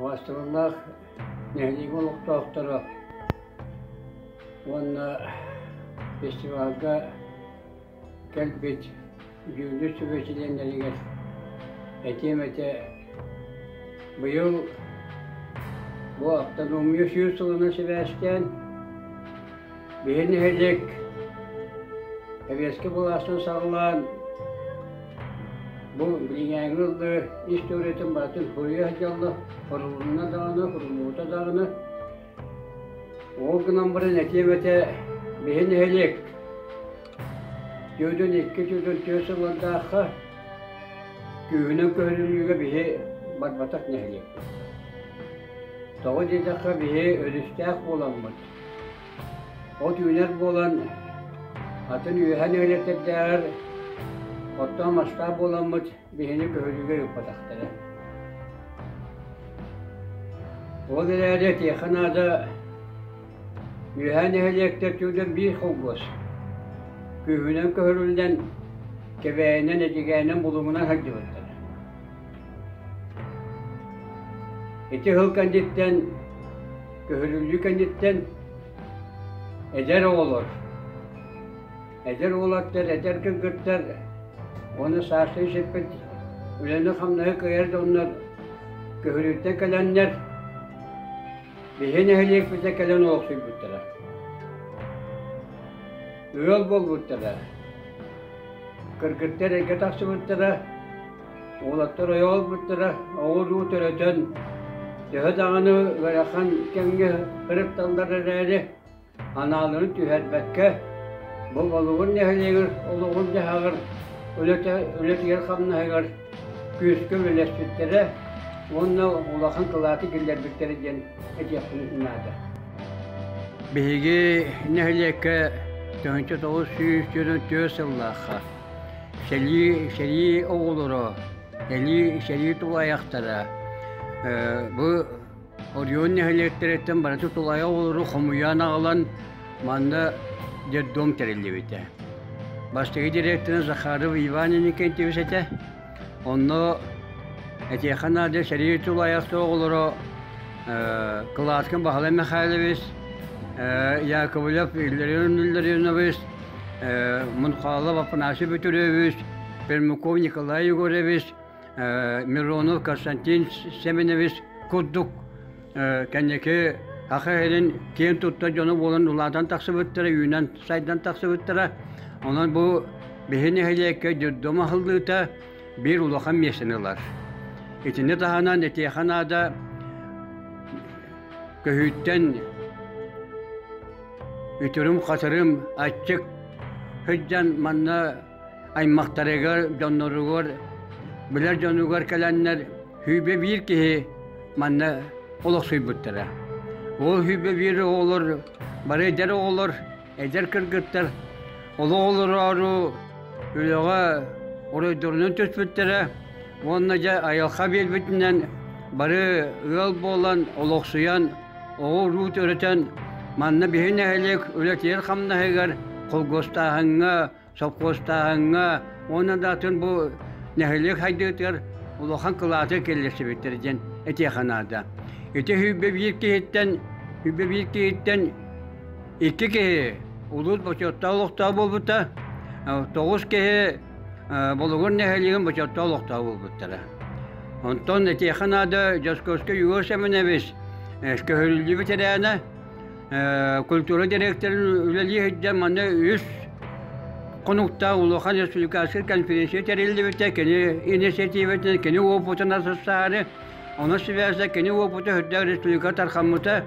Уосталаннаах нэһилиэк олохтоохторо уонна фестивальга кэлбит дьүүллүр сүбэ чилиэннэригэр этиэм этэ быйыл бу ахтаномия сүүс сылынан сибээстээн Биһи нэһилик Сэбиэскэй былаастан саҕалаан бу билиҥээҥи ыллыы историятын барытын суруйа сылдьалла, сурулунна даҕаны, суруллубута даҕаны. Ол гынан баран этиэбэтэ биһи нэһилик дьүөдүн икки дьүөдүн түөрт сыллардаахха күүһүнэн көһөрүлүүгэ биһи барбатах нэһилиэк. Тоҕо диэтэххэ биһи өрүстээх буоламмыт, От үүнэр буолан, атын үөһэн үөлэтэрдээҕэр оттон масштаб буоламмыт биһини көһөрүүгэ ыыппатахтара. Ол эрээри этиэхэ наада, үөһээ нэһилиэктэр түгэннэр биир холбос, күүһүнэн көһөрүллэн, кэбээйинэн, эдьигээнэн, булумунан сылдьыбыттара. Ити сыл кэнниттэн Көһүлүлүү кэнниттэн эдэр оҕолор, эдэр уолаттар, эдэр кыргыттар уонна саастыы сирпит үлэни-хамнаһы кыайар да оннугар көһүлүүртэн кэлэннэр биһи нэһилиэкпитэ кэлэн олохсуйбуттара. Ыал буолбуттара. Кыргыттар эргэ тахсыбыттара, Уолаттар ойо олорбуттара оҕо-уруу төрөтөн, төһө даҕаны ыарахан кэмҥэ ырытталлар эрээри, анаалырын түһэрбэккэ, бу Волугун нэһилиэгэр олоҕун-дьаһаҕын үлэтигэр-хамнаһыгар күүскэ үлэлэспиттэрэ уонна улахан кылааты киллэрбиттэрэ диэн этиэхпин наада. Биһиги нэһилиэккэ тыһыынча тоҕус сүүс дьонун түөрт сыллаахха сэрии, сэрии оҕолоро, сэрии, сэрии тулаайахтара, бу Орион нэһилиэктэриттэн барыта тулаайах оҕолору хомуйаан аҕалан манна детдом тэриллибитэ. Бастакы дириэктэрэ Захаров Иван Иннокентьевич этэ. Онно этиэхэ наада сэрии тулайах оҕолоро Кылааскын Баһылай Михайлович, Яковлев Илларион Илларионович, Мунхалов Афанасий Петрович, Пермяков Николай Егорович, Миронов Константин Семенович курдук кэнники Аха иһин киэн тутта дьону буолан улаатан тахсыбыттара, үүнэн сайдан тахсыбыттара. Онон бу биһи нэһилиэккэ дурдум аһыллыыта биир улахан миэстэни ылар. Итини таһынан этиэхэ наада көһүүттэн үтүрүм-хатырым аччык сыдьан манна аймахтарыгар, дьонноругар, билэр дьонугар кэлэннэр Хүбэ биир киһи манна олохсуйбуттара. Ол Хүбэ биир оҕолор бары эдэр оҕолор, эдэр кыргыттар олох олороору үлэҕэ оройдорунан түспүттэрэ уонна дьэ айылҕа биэрбитинэн бары ыал буолан олохсуйан оҕо-уруу төрөтөн манна биһи нэһилиэк үлэтигэр-хамнаһыгар холкуостааһыҥҥа Совхозтааһыҥҥа уонна да атын бу нэһилиэк сайдыытыгар улахан кылааты киллэрсибиттэр диэн этиэхэ наада. Ити биир киһиттэн биир киһиттэн икки киһи улуус бочуоттаах олохтоох буолбута, тоҕус киһи Болугур нэһилиэгин бочуоттаах олохтоох буолбуттара. Онтон этиэхэ наада Дьоскуоска Юрий Семенович көһөрүллүбүт эрээнэ культура директорын үлэлии сылдьан манна үс хонуктаах улахан республиканскай конференция тэриллибитэ кини инициативатын кини опытын асастаары ону сибээсэ кини опыта үрдэх республика тархаммыта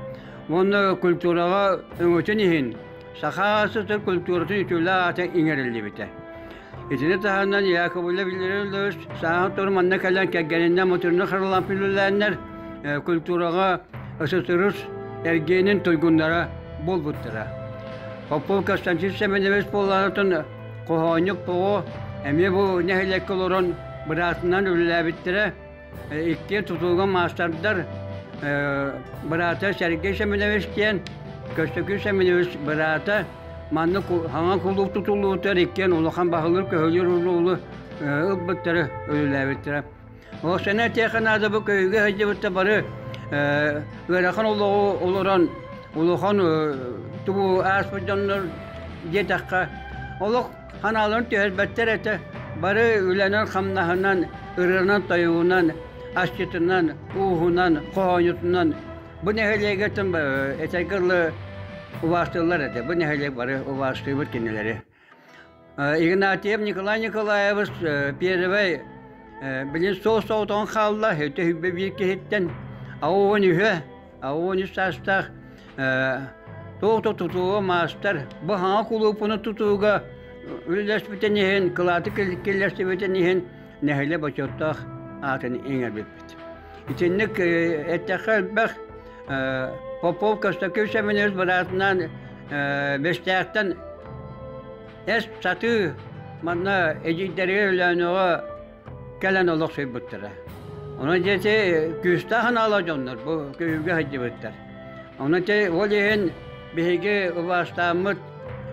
уонна культураҕа өҥөтүн иһин саха сытын культуратын үтүлэ аата иҥэриллибитэ Итини таһынан Яковлев Илларионович сааһын тур манна кэлэн кэргэниннэн мутурну харылан үлэлээннэр культураҕа ССРС эргиэнин туйгуннара буолбуттара. Попов Константин Семенович буолаатын хоһоонньук поҕо эмиэ бу нэһилиэккэ олорон быраатынан үлэлээбиттэрэ Икки тутууга маастардар быраата Сергей Семенович диэн, Көстөкүүн Семенович быраата маннык хаҥа кулууп тутуллубутугар иккиэн улахан баһылыыр көһүлүүр уруулу ылбыттары үлэлээбиттэрэ. Ол сэнэ этиэхэ наада бу көйүүгэ сылдьыбытта бары ыарахан олоҕу олорон улахан тубу ааспыт дьоннор диэтэххэ олох Ханааларын түһэрбэттэр этэ, бары үлэнэн-хамнаһынан, ырыанан-тойугунан, асчытынан, ууһунан, хоһоонньутунан бу нэһилиэгэ тым этэргэ дылы убаастыыллар этэ. Бу нэһилиэк бары убаастыыбыт кинилэри. Игнатьев Николай Николаевич первый билин суос соҕотоҕун хаалла, өтө биир киһиттэн, а уон үһө А оне састах туох тутууга маастар баһаҕа кулуупуну тутууга үллэспитин иһин кылааты киллэстибитин иһин нэһилэ бочуоттаах аатын иҥэрбиппит. Итинник эттэххэ элбэх Попов Костаков семинар быраатынан Бэстээхтэн эс сатыы манна эдьиийдэргэ өлөөнөҕө кэлэн олохсуйбуттара. Ону диэти күүстээх анаала дьоннор бу көйүүгэ сылдьыбыттар. Ону ти ол иһин биһиги убаастааммыт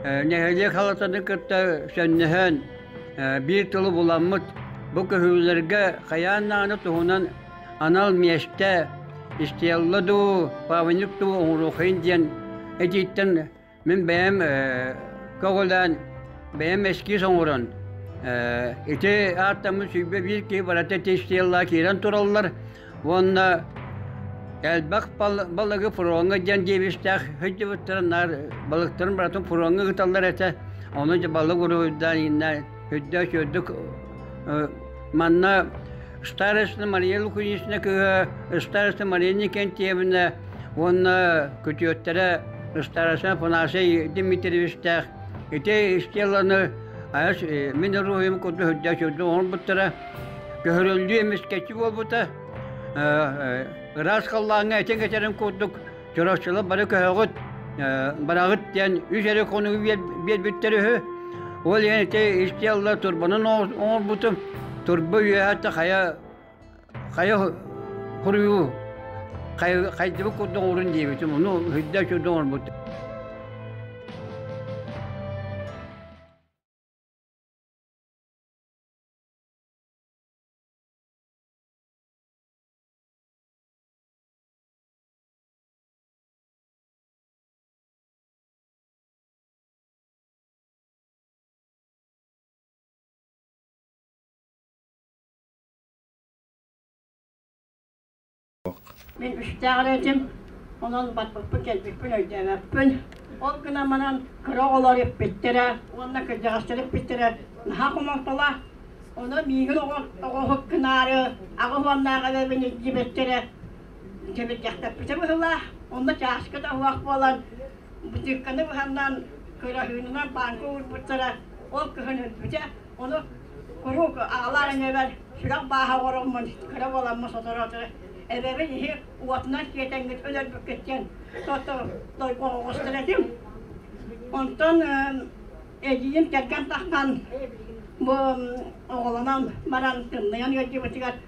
нэһилиэк халатаны кытта сөннөһөн биир тылы буламмыт бу көһүүлэргэ хайаан нааны туһунан анал миэстэ истиалла дуу, павник дуу оҥоруохайын диэн этииттэн Мин бэйэм көҕүлээн, бэйэм эскиз оҥорон, ити ааттаммыт сүүрбэ биир киһи барыта тестиялла киирэн тураллар уонна элбэх балыгы фроҥҥа диэн диэбистээх сылдьыбыттарын наар балыктарын барытын фроҥҥа ыыталлар этэ. Ону балык уруһуйдаан иннэ Үрдэс үрдүк манна Староста Мария Лукунична кыыһа Староста Мария Никентьевна уонна күтүөттэрэ Староста Панасия Дмитриевичтээх ити стелланы айас мин руһуйум курдук үрдэс үрдүк оҥорбуттара көһөрүллүү эмискэччи буолбута ыраас халлааҥҥа этин этерин курдук Чороччулар бары көһөҕүт, бараҕыт диэн үс эрэ хонугу биэрбиттэр үһү. Ол иһин ити исти алла турбанын оҥорбутум. Турба үөһэтэ хайа хайа хуруйуу хайдыбыт курдук орун диэбитим. Ону хүддэ сүрдүн оҥорбутум. Мин үстээҕэр этим, онон батпыппын кэлбиппин өйдөөбөппүн. Ол гынан манан кыра оҕолор эппиттэрэ уонна кырдьаҕастар эппиттэрэ наһаа хомолтолоох. Ону миигин оҕо оҕоһут кынаары аҕыс уоннааҕы эбэбин илдьибэттэрэ Кэмирдьэхтэппитэ быһылаах, онно чаашката оһуох буолан, бытыыкканы быһаннан, көлөһүүнүнэн паанка уурбуттара, ол көһөн өлбүтэ. Ону куруук аҕалар эҥэбэр сүрэх бааһа оҕороммун кыра буоламмын соторутары эбэбин иһи уотунан сиэтэҥҥит өлөрбүккүт диэн тото дойбоҕоҕостор этим. Онтон эдьиийим кэргэн тахсан бу оҕолонон баран тымныйан ыалдьыбытыгар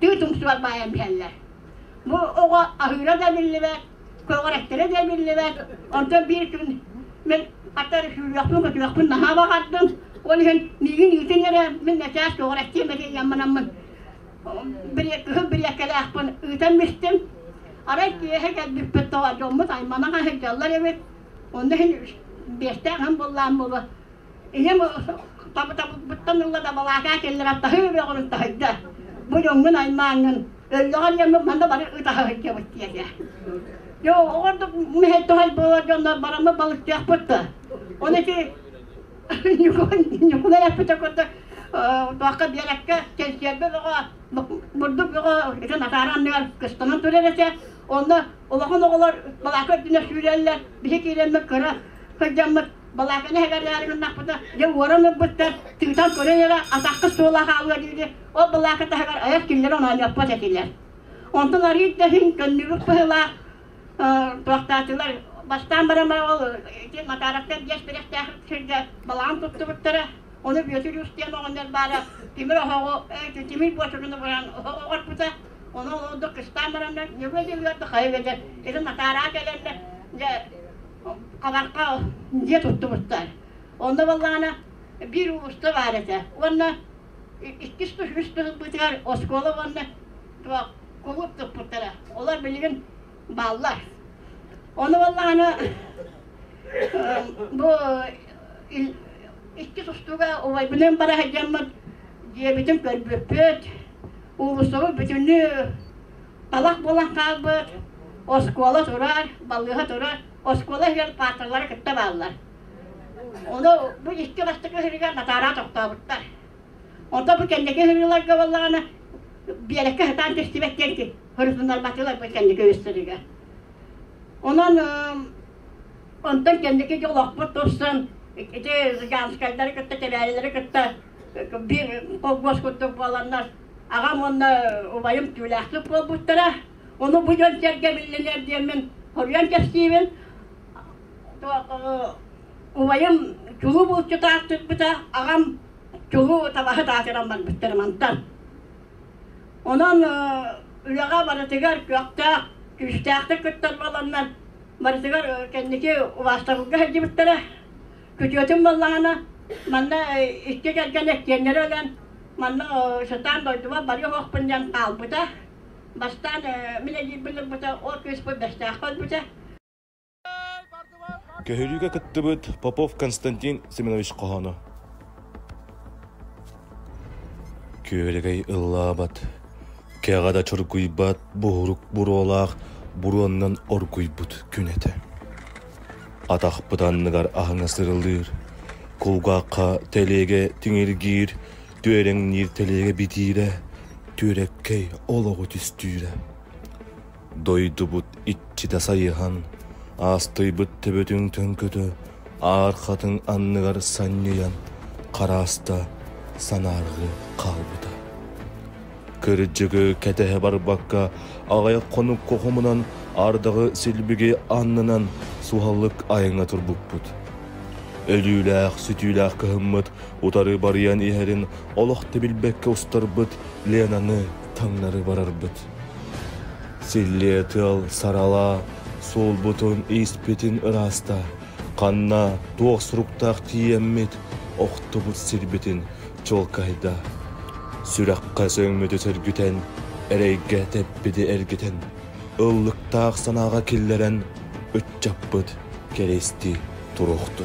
түүт уксугар баайан биһэллэр. Бу оҕо аһыыра да биллибэт, көҕүрэттэрэ да биллибэт. Онтон биир күн мен хатар сүүлүөхпүн көтүөхпүн наһаа баҕардым. Ол иһин миигин иитин эрэ мин начаас көҕүрэттиэм этэ ямманаммын. Кыһыл бириэккэлээхпин ыытан бистим. Арай киэһэ кэлбиппит тоҕо дьоммут аймана сылдьаллар эбит. Онно иһин биэстээх һым буллаан буолу Ийэм табытабыттан ылла дабалаата кэллэҕэ таһыы бөҕүрүн таһыйда. Муньуҥҥун аймааҥҥын, өллөҕөр диэммин манна бары ытаһа сылдьабыт диэтэ. Дьэ ордук мэһэй туһай буолар дьоннор бараммыт балыктыахпыт да. Ону ити Ньукулай эппитэ курдук туохха биэрэккэ кэнсиэрбэ бөҕө бурдук бөҕө итин атаара анныгар кыстанан турар этэ. Онно улахан оҕолор балака үрдүнэ сүүрэллэр. Биһи киирэммит кыра сылдьаммыт Балааканы эбэлээри гыннахпына, дьэ уоран ылбыттар, тыытан көрөн эрэ атахка суола хаалыа диини, ол балаака таһыгар айах киллэрэн оонньоппот этилэр. Онтон арыый да иһин көннүгүк быһылаах туохтаатылар. Бастаан баран бара ол ити Макаровтан диэс бэлэхтээх сиргэ балаҕан туттубуттара, оны Бүөтүр Үстиэн оҕонньор баара тимир оһоҕу, тимир буочуруну буран оҕорпута, оны олордук кыстаан бараннар, ньүгү дьылыарда хайы бэдэр, ити Макараа кэлэннэ, дьэ хабарха дьиэ туттубуттар. Онно буоллаҕына биир уулусса баар этэ. Уонна иккис үс бытыгар оскуола уонна кулууп туппуттара. Олор билигин бааллар. Ону буоллаҕына бу икки тустууга убайбыныын бара сылдьаммыт дьиэбитин көрбүппүт, уулуссабыт бүтүннүү талах буолан хаалбыт оскуола турар, балыыһа турар, оскуола иһигэр паарталары кытта бааллар. Ону бу икки бастакы сырыгар натаараа тохтообуттар. Онто бу кэнники сырыыларга боллаҕына биэрэккэ сатаан түстүбэт диэн хырытыннарбатылар бу кэнники үстэригэр. Онон онтон кэнники дьолохпут турсан ити Зыганскайдары кытта Тевялилэри кытта биир холбос курдук буоланнар Аҕам уонна убайым түүлээхтик буолбуттара. Ону бу дьон сэргэ биллинэр диэммин хоруйан кэпсиибин. Убайым чулуу булчута аттыппыта, аҕам чулуу табаһы таатыран барбыттар мантан. Онон үлэҕэ барытыгар көхтөөх, күүстээхтик кыттар буоланнар, барытыгар кэнники убаастабылга сылдьыбыттара. Күтүөтүм буоллаҕына, манна икки кэргэн иккиэннэри өлөн, манна сатаан дойдубар бары оһохпун диэн хаалбыта. Бастаан мин эдьиийбин ылбыта, ол кыыспын Бэстээххэ өлбүтэ. Көһөрүүгэ кыттыбыт Попов Константин Семенович хоһооно. Күөрэгэй ыллаабат, кэҕэ да чоргуйбат буһурук буруолаах буруоннан оргуйбут күн этэ. Атахпыт анныгар аһыҥа сырылыыр, кулгаахха тэлиэгэ тиҥиргиир, түөрэҥниир тэлиэгэ битиирэ, түөрэккэй олоҕу түстүүрэ. Дойдубут иччитэ сайыһан, аастыйбыт төбөтүн төҥкөтө, аархатын анныгар санньыйан, харааста, санаарҕыы хаалбыта. Кырдьыгы кэтэһэ барбакка, аҕай хонук хоһумунан ардаҕы силбиги аннынан суһаллык айаҥҥа турбуппут. Өлүүлээх-сүтүүлээх кыһыммыт утары барыйан иһэрин олох да билбэккэ устарбыт Ленаны таҥнары барарбыт. Силлиэ тыал саралаа суолбутун ииспитин ырааста, ханна туох суруктаах тиийэммит охтубут сирбитин чолкайда. Сүрэххэ сөҥмүтү сөргүтэн, эрэйгэ тэппити эргитэн, ыллыктаах санааҕа киллэрэн ыччаппыт кэристи туруохту.